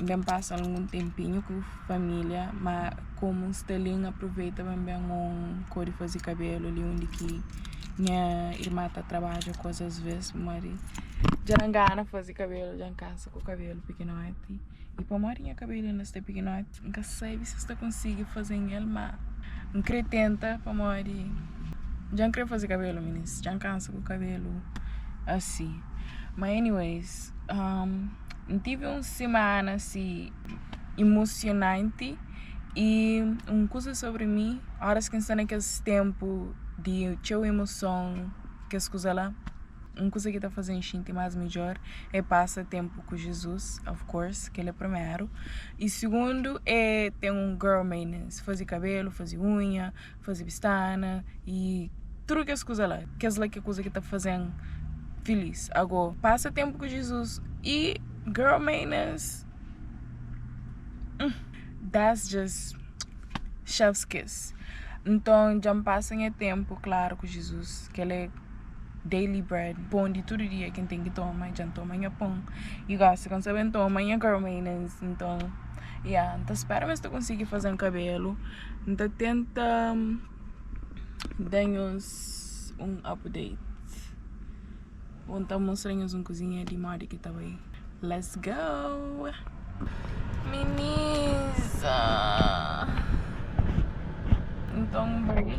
N ben pasa algun tenpinhu ku família, má komu N sta li, N aproveita ba N ben un kóde faze kabelu li undi ki nha irma ta trabadja kóz asvês pamodi dja na ngana faze kabelu dja N kansa ku kabelu pikinoti i pamodi nha kabelu inda sta pikinoti N ka sabe si N sta konsigi faze-m el má N krê tenta pamodi dja N krê faze kabelu minis dja N kansa ku kabelu asi ma anyways. N tive un semana si imosionanti y un kuza sobri mi oras ki N sta na kes tenpu di txeu imoson kes kuza la un kuza ki ta faze N xinti más midjor é pasa tenpu ku Jizus of course kel é primeru y sigundu é ten un girl maintenance faze kabelu faze unha faze bistana y tudu kes kuza la, kes la ki é kuza ki ta faze-m filís. Agó, pasa ténpu ku Jizus y girl maners hum that's just chef's kiss. Nton dja-m pasa nha ténpu klaru ku Jizus, kel la é daily bread, pon di tudu dia ki N ten ki toma, dja-m toma nha pon y gósi ka N sabe N toma nha girl maners. Nton ya, N ta spera ma es ta konsigi faze-m kabelu. N ta tenta da-nhos un update Bo N ta mostra-nhos un kuzinha di modi ki ta bai Let's go Minisa Nton bai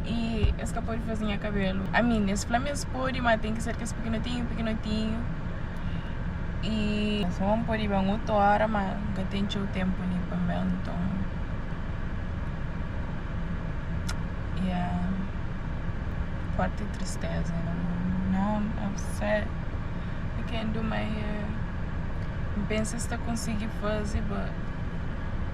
E es ka pode faze nha kabelu A mi es fla-m es pode ma ten ki ser kes pikinotinhu pikinotinhu E es fla ma N pode ben otu óra ma N ka ten txeu ténpu li pa N ben nton Ya Fórti tristéza na mon Now I'm upset I can't do my hair N pensa es ta konsigi faze but.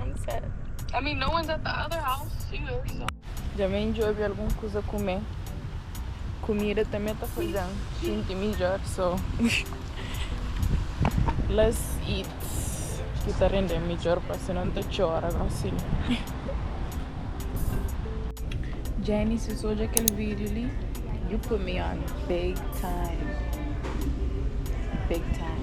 I'm sad. I mean, no one's at the other house either, so. Dja me djobe algum kuza kume. Kumida também tá fazendo sinti melhor, so. Let's eat. Que tá rendendo melhor, parece não tá tchora, não sei. Genesis odja kel video li you put me on big time big time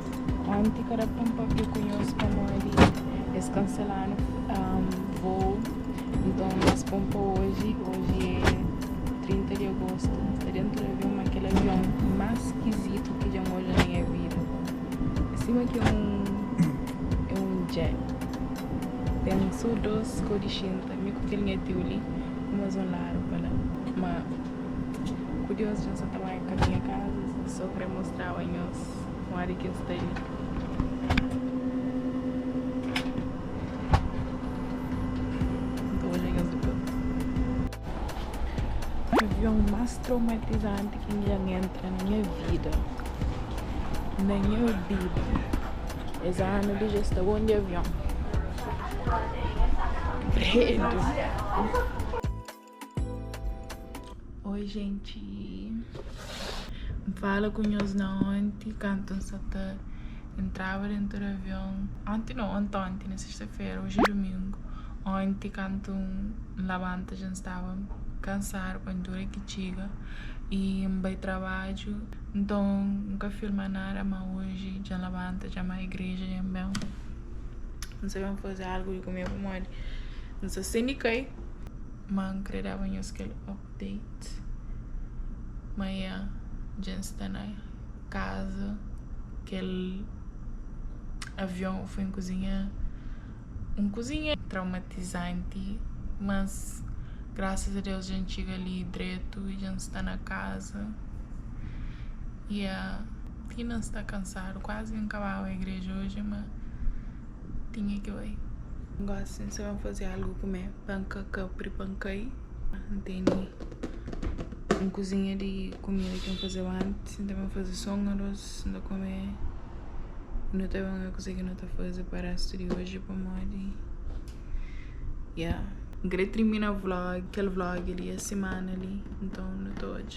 Onti kada konpapia ku nhos pamodi es kanselanu vou nton es ponpa oji oji é 30 di agostu ta dentu di avion ma kel avion más skizitu ki dja N odja na nha vida é sima ki é un jet ten so dôs kau di xinta mi ku kel nha tiu li un más un ladu pa la ma ku dios dja N sa ta bai kaminha kaza so krê mostraba nhos. Kuma di ki el sta li. N ta odja kes dipôs. Avion más traumatizanti ki N dja entra na nha vida. Na nha vida. Es anu li dja sta bon di avion. Credo! Oi gente N fala ku nhos na onti kantu N sa ta entraba dentu di avion Onti no, antonti na sesta fera, oji é dumingu Onti kantu N labanta dja N staba kansadu pa N tura ki txiga y N bai trabadju Nton N ka filma nada ma oji dja N labanta dja N bai igreja dja N ben N sa ben faze algu di kume pamodi N sa sendi kai. M'an kre daba nhos kel update ma ya dja N sta na kaza kel avion foi nkuzinha un kuzinha traumatizanti mas graças a Deus dja N txiga li dretu e dja N sta na kaza ya ti na N sta kansadu kuazi N kababa igreja oji ma Tinha ki bai. N gosi sin sa ben fazi algu kume pa N ka kapri pa N kai. N teni un kuzinha di kumida ki N fazeba antis N ta ben fazi so un aros N ta kume nu ta ben obi kuzê ki nu ta fazi pa restu di oji pamodi ya N kre trimina vlog kel vlog li es simana li nton nu ta odja.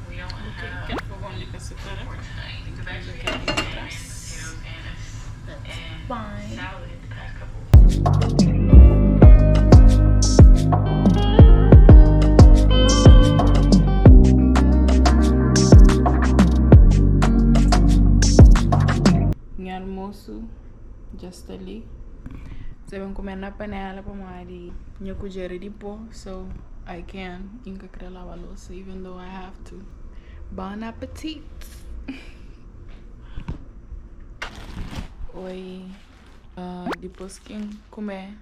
nha almoço dja sta li sa ben kume na panela pamodi nha kudjera é di pó so i can. I n ka krê lava lousa even though I have to. Bon appetit! Oi, uh, depois ki n kume,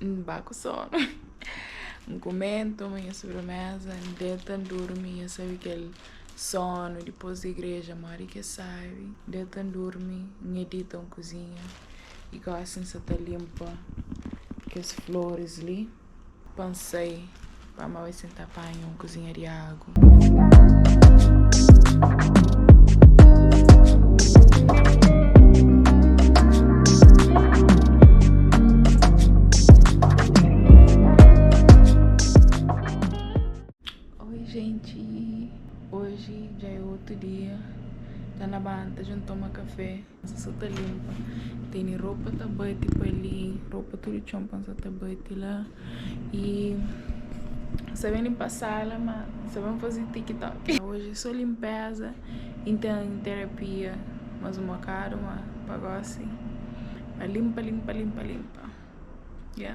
n ba ku sono. N kume, n toma nha sobremesa, n deta, n durmi, nha sabe kel sono depois di igreja, modi ki es sabe. N deta, n durmi, n edita un kuzinha i gosi n sa ta limpa kes flores li. Pansai pa mau e sen ta panha un kuzinha di agu. Oi jenti, oji dja é otu dia, ta na banta dja N toma kafé. Pansa sa ta linpa tene ropa ta bate pa li ropa tudu txon pansa ta bate la y sa ben linpa sala ma sa ben faze tiktok oji so linpeza y n ten terapia mas un bokadu ma pa gosi pa linpa linpa linpa linpa ya.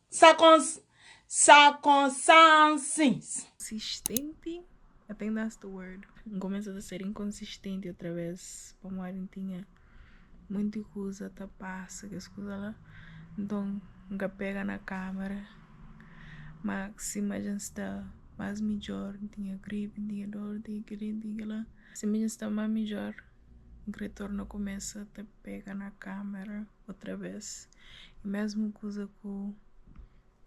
Sa cons sa consans. Consistenti I think that's the word N kumesa ta ser inconsistenti otra vez pamodi N tinha monti kuza ta pasa kes kuza la nton N ka pega na kamera ma sima dja N sta mas midjor N tinha gripe N tinha dor N tinha keli N tinha kila sima dja N sta ma midjor N kre torna kumesa ta pega na kamera. otra bes e mesmu kuza ku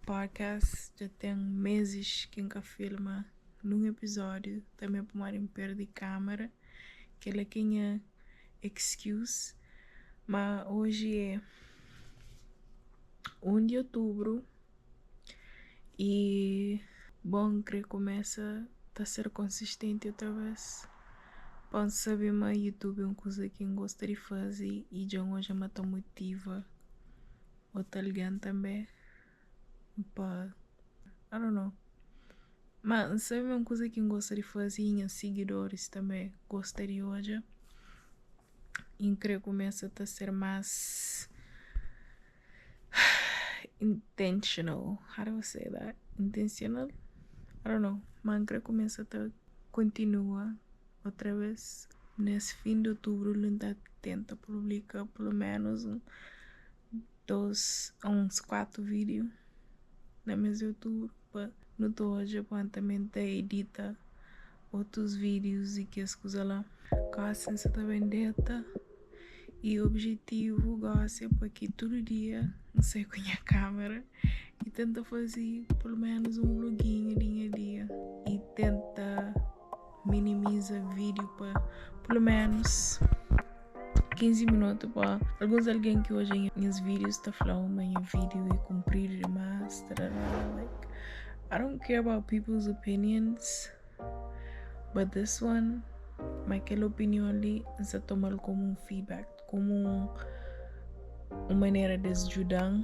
podcast dja ten mezis ki n ka filma nun episódiu tanbe pamodi n perde kámera kela ki é nha excuse ma oji é 1 di otubru. Y bo N kre kumesa ta ser konsistenti otra bes Pa N sabe ma YouTube é un kuza ki N gosta di faze y dja N odja ma ta motiva otu algen tanbe Pa I don't know ma N sabe ma é un kuza ki N gosta di faze y nha sigidoris tanbe gosta di odja y N kre kumesa ta ser más. intentional how do I say that intentional I don't know ma n kre kumesa ta kontinua otra vez nes fin di otubru li n ta tenta publika pulu menus un dos a uns kuatu video na mes di otubru pa nu ta odja pa n ta menta edita otus vídius y kes kuza la. Gósi N sa ta ben deta y objetivu gósi é pa ki tudu dia N sai ku nha kámera y tenta faze peloménus un vloginhu di nha dia y tenta minimiza vídiu pa peloménus. 15 minutu pa alguns algen ki odja nhas videos ta fla oh ma nha video é kunpridu dimas tarará like I don't care about people's opinions but this one ma kel opinion li n sa tomal komu un feedback komu un manera des djudan